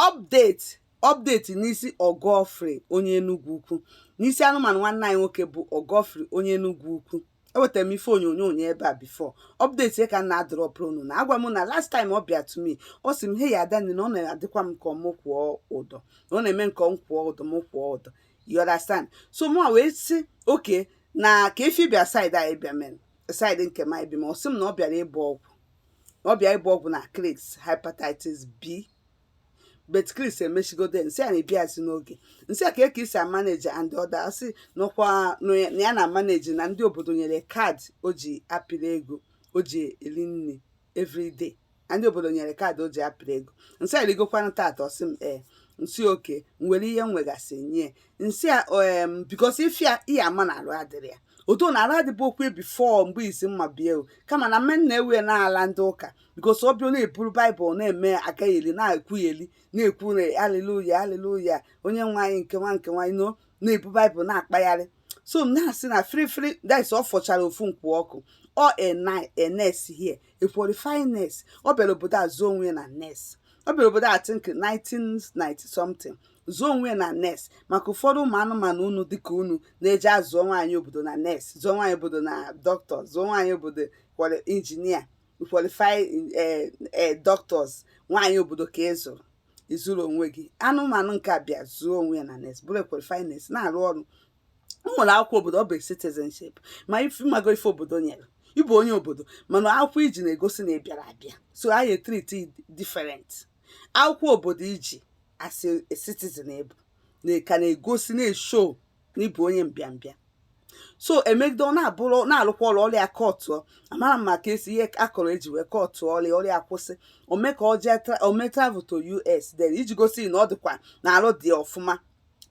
update update n'isi ọgọfri onye enugwu ukwu n'isi anụmanụ nwanne anyị nwoke bụ ọgọfri onye enugwu ukwu ewetara m ife onyonyo onye ebe a before update ka m na-adropụrụ unu na agwa m na last time ọ bịa to me ọ sị m hey Adanne na ọ na-adịkwa m ka m kwụọ ụdọ na ọ na-eme m ka m kwụọ ụdọ m kwụọ ụdọ you understand so mụ wee sị okay na ka efi bịa side anyị bịa main side nke m anyị bi ma ọ sị m na ọ bịara ịgba ọgwụ na ọ bịa ibu ọgwụ na Chris hepatitis B but Chris emechigodo m sị ya na ị bịazị n'oge m sị ya kee ka i si amanage and all that ọ sị n'ọkwa na ya na-amanage na ndị obodo nyere card o ji apịrị ego o ji eri nri everyday na ndị obodo nyere card o ji apịrị ego m sị ya i rigokwanụ tata ọ sị m ee m sị okay nwere ihe m wegasị nye m sị ya em because ị fụ ya ị ya-ama na arụ adịrọ ya otu na arụ adịbụ okwu before mgbe isi mma bịa o kama na m na-ewe na ala ndị ụka because ọ bịa ọ na-eburu baịbụl na-eme agagheli na-ekwugheli na-ekwu na aliluya aliluya onye nwe anyị nke nwa nke nwa you know na-ebu baịbụl na-akpagharị so m na-asị na firifiri that's ọ fọchara ofu nkwụ ọkụ ọ a nurse here a qualified nurse ọ bịara obodo a zụọ onwe ya na nurse ọ bịara obodo I think 1990 something zụọ onwe ya na nurse maka ụfọdụ ụmụ anụmanụ unu dịka unu na-eje azụọ nwaanyị obodo na nurse zụọ nwaanyị obodo na dọkịta zụọ nwaanyị obodo kwere engineer qualified eh, eh, doctors nwaanyị obodo ka ị zụrụ ị zụrọ onwe gị anụmanụ nke a bịa zụọ onwe ya na nurse bụrụ qualified nurse na-arụ ọrụ o nwere akwụkwọ obodo ọ bụ citizenship ma ị mago ife obodo nyere ị bụ onye obodo mana akwụkwọ i ji na-egosi na ị bịara abịa so a na-etreati different akwụkwọ obodo i ji as a citizen bụ nke na-egosi na-eshow na ị bụ onye mbịambịa so emegide ọ na-abụrụ na-alụkwa ọrụ ọrụ ya kọtụ amarọ m maka esi ihe akọrọ eji wee kọtụ ọrụ ya ọrụ ya kwụsị o mee ka ọ jee o mee travel to US then iji gosi na ọ dịkwa na arụ dị ọfụma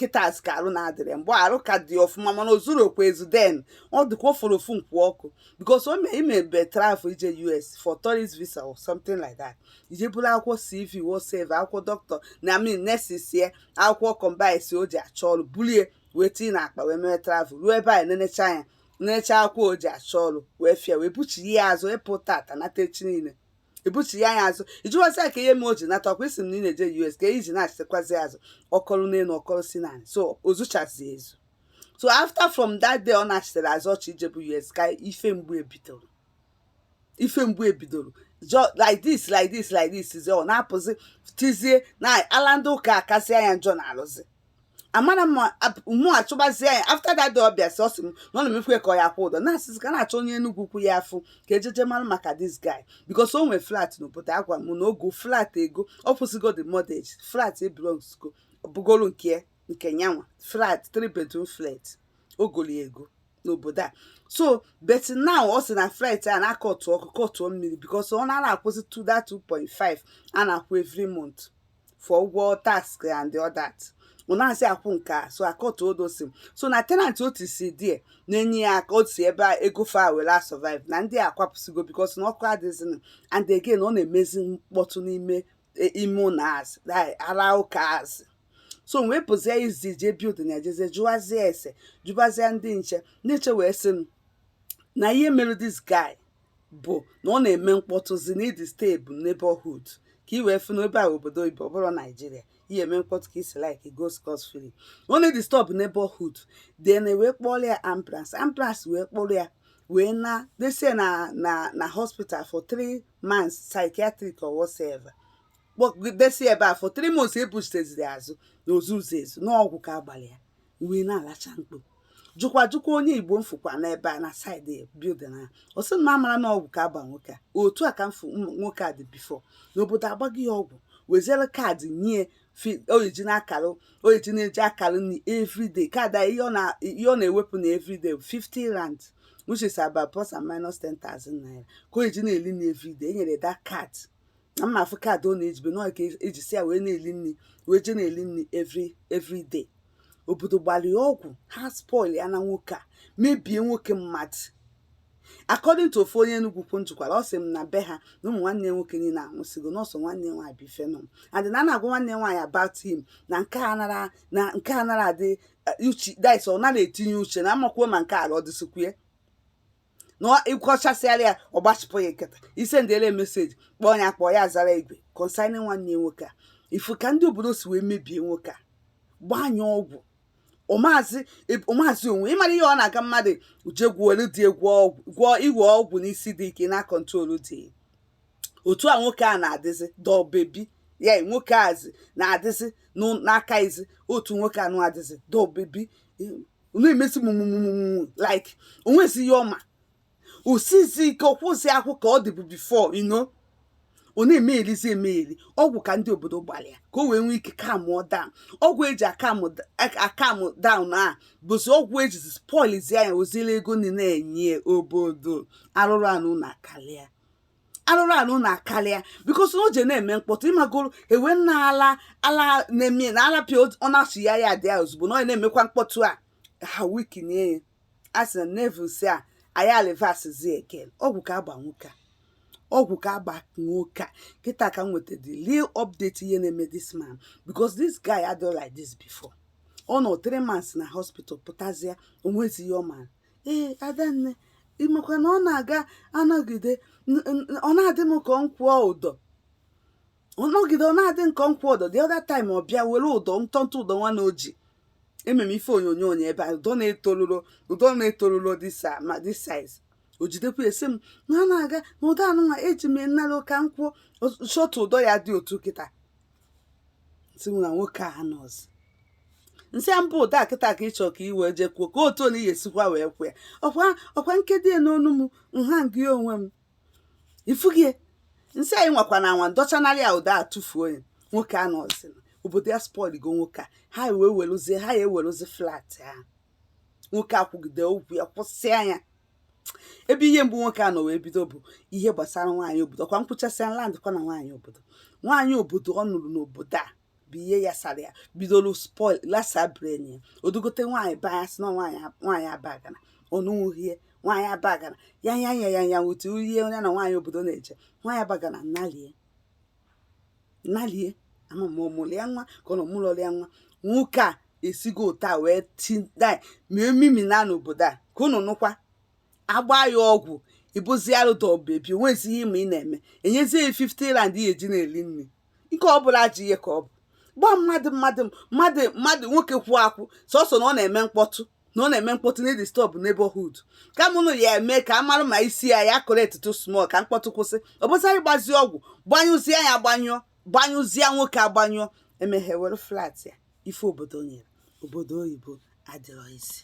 kịtas ka arụ na-adịrị mgbe arụ ka dị ọfụma mana o zurọkwa ezu then ọ dịka ọ fọrọ ofu nkwụ ọkụ because o mee i mebe travel i je US for tourist visa or something like that i je buru akwụkwọ CV whatsoever akwụkwọ dọkịta na I mean nurses ya akwụkwọ combines o ji achọ ọrụ bulie wee tinye na akpa wee mee travel ruo ebe anyị nenecha anya nenecha akwụkwọ o ji achọ ọrụ wee fịa wee buchighaa ya azụ ị pụ tata nata echi niile ebuchi ya anya azụ ị jụwazie ya kee ihe m o ji nata ọkwa ị sị m na ị na-eje US ka i ji na-achịtakwazi azụ ọ kọrọ n'elu ọ kọrọ si n'anị so o zuchazi ezu so after from that day ọ nachitere azụ ọchị ijebu US ka ife mgbu ebidoro ife mgbu ebidoro like this like this like this ọ na-apụzi tizie na ala ndị ụka akasị anya njọ na-alụzi mana mụ achọbazie ya after that day ọ bịa sị ọ sị m na ọ na-emefu ka ọ ya kwụ ụdọ na-asịzi ka na-achọ onye Enugu Ukwu ya afụ ka ejeje mara maka this guy because o nwee flat n'obodo a gwa m na ọ go flat ego ọ kwụsịgo the mortgage flat belongs go bụgoro nke nke nyanwa flat three bedroom flat o goli ego n'obodo a so but now ọ sị na flat a na a kọtụ ọkụ kọtụọ mmiri because ọ na-akwụzi 2 that 2.5 a na-akwụ every month for ụgwọ tax and all that ọ nazị akwụ nke a so a kọtụ all those things so na tenant otu si die na-enye ya aka otu ebe a ego fa were survive na ndị akwapụsigo because na ọkụ adịzinụ and again ọ na-emezi mkpọtụ n'ime e, ime ụlọ azị ara ụka azị so wee pụzie ezi jee building a jeezie jụwazie ese jụbazie ndị nche ndị nche wee sị m na ihe mere this guy bụ na ọ na-eme mkpọtụzi na-edisturb neighborhood ka i wee fụ na ebe a obodo ibe ọ bụrọ Nigeria i ya-eme mkpọtụ ka i si like go scot free ọ na-edisturb neighborhood then wee kpọrọ ya ambulance ambulance wee kpọrọ ya wee na desie na na na hospital for three months psychiatric or whatsoever kpọgidesi ebe a for three months e buchiteziri azụ na o zuzi ezu na ọgwụ ka a gbalị ya wee na-alacha mkpu jụkwa jụkwa onye Igbo m fụkwa n'ebe a na side building a ọ sị na a mara na ọgwụ ka a gba nwoke a otu a ka m fụ nwoke a dị before na obodo agbago ya ọgwụ weziere card nye ọ ya-eji na-akara ọ ya-eji na-eji akara nri everyday card a ihe ọ na-ewepụ na everyday 50 rand which is about plus and minus 10,000 naira ka ọ ya-eji na-eli nri everyday e nyere that card na mụ afụ card ọ na-ejibe na ka eji si ya wee na-eli nri wee jee na-eli nri every every day obodo gbara ya ọgwụ ha spoil ya na nwoke a mebie nwoke mmadụ according to ofu onye Enugu Ukwu m jụkwara ọ sị m na be ha na ụmụ nwanne nwoke niile anwụsịgo na ọ sọ nwanne nwaanyị bụ ife nọ and na a na-agwa nwanne nwaanyị about him na nke a nara na nke a nara adị eh, interested ọ nara etinye uche na amakwuo ma nke ala ọ dịsịkwuye na ị kọchasịara ya ọ gbachipụ ya nkịta i sendịele message kpọọ ya kpọọ ya zara igwe concerning nwanne ya nwoke a ị fụ ka ndị obodo si wee mebie nwoke a gbanye ọgwụ ọ mazị ọ mazị onwe ị mara ihe ọ na-aga mmadụ jee gwọọlụ gị gwọọ ọgwụ gwọọ iwe ọgwụ n'isi dị ike na-acontrol gị otu a nwoke a na-adịzi doll baby ya nwoke azi na-adịzi n'aka izi otu nwoke a na-adịzi doll baby ọ na-emezi mụmụmụmụ like o nwezi ihe ọ ma o sizi ike ọ kwụzi akwụ ka ọ dịbu before you know ọ na-emegherizi emegheri ọgwụ ka ndị obodo gbalị ya ka o wee nwee ike calmụọ down ọgwụ e ji acalmụ down a bụzi ọgwụ e jizi spoilizia nya ozile ego niile enye obodo arụrụ ana unu akarịa arụrụ anụ na-akarịa because na o je na-eme mkpọtụ ị magoro ewe na ala ala na-eme na ala pịa ọ na-asụ ya ya dị ya ozugbo na ọ na-emekwa mkpọtụ a ha weakenie ya a sị na nevil si a anyị alivas zi eken ọgwụ ka a gba nwoke a ọgwụ ka a gba nwoke a kịta ka m nweta the real update ihe na-eme this man because this guy adịghị like this before ọ nọ three months na hospital pụtazie o nwezi ihe ọ mara ee adanne ị makwa na ọ na-aga ọ nọgide ọ na-adị m ka m kwụọ ụdọ ọ nọgide ọ na-adị m ka m kwụọ ụdọ the other time ọ bịa were ụdọ ntọntụ ụdọ nwa na o ji ememe ife onyonyo onye ebe a ụdọ na-etoluro ụdọ na-etoluro this ah, ma this size o jidekwa ya sị m na ọ na-aga na ụdọ anụnwa eji m nalụ ka m kwụọ short ụdọ ya dị otu kịta sị m na nwoke a nọzi m sị ya ọ bụ ụdọ kịta ka ị chọ ka i wee je kwụọ ka otu na ihe sikwa wee kwụ ya ọkwa ọkwa m kedo ya n'onu m m hangie onwe m ifu gị e m sị ya ị nwakwana anwa m dọchanarị ya ụdọ a tụfuo ya nwoke a nọzi obodo ya spoilgo nwoke a ha wee weluzie ha ya eweluzi flat ahụ nwoke a kwugide okwu ya kwusịa ya ebe ihe mgbu nwoke a nọ wee bido bụ ihe gbasara nwaanyị obodo ọ kwa m kwuchasịa land kwa na nwaanyị obodo nwaanyị obodo ọ nụrụ n'obodo a bụ ihe ya sara ya bidoro spoil lasa brain ya o dugote nwaanyị be ya si na nwaanyị nwaanyị abagana ọ nụnwuhie nwaanyị abagana ya ya ya ya ya otu ihe onye na nwaanyị obodo na-eje nwaanyị abagana nalie nalie ama m ma ọ mụrụ ya nwa ka ọ na ọ mụlọrọ ya nwa nwoke a esigo otu a wee tinda mee mimi na n'obodo a ka unu nọkwa agba ya ọgwụ i buzie ya dobe ebe o bi o nwezi ihe ma ị na-eme enyezie ya 50 rand ihe e ji na-eri nri nke ọ bụla ji ihe ka ọ bụ gbaa mmadụ mmadụ mmadụ mmadụ nwoke kwụ akwụ sọsọ na ọ na-eme mkpọtụ na ọ na-eme mkpọtụ na-adisturb neighborhood kama unu ya-eme ka a mara ma isi ya ya correctitu small ka mkpọtụ kwụsị ọ bụzarị gbazie ọgwụ gbanyụzie ya agbanyụọ gbanyụzie nwoke agbanyụọ emeghe were flat ya ife obodo nyere obodo oyibo adịrọ easy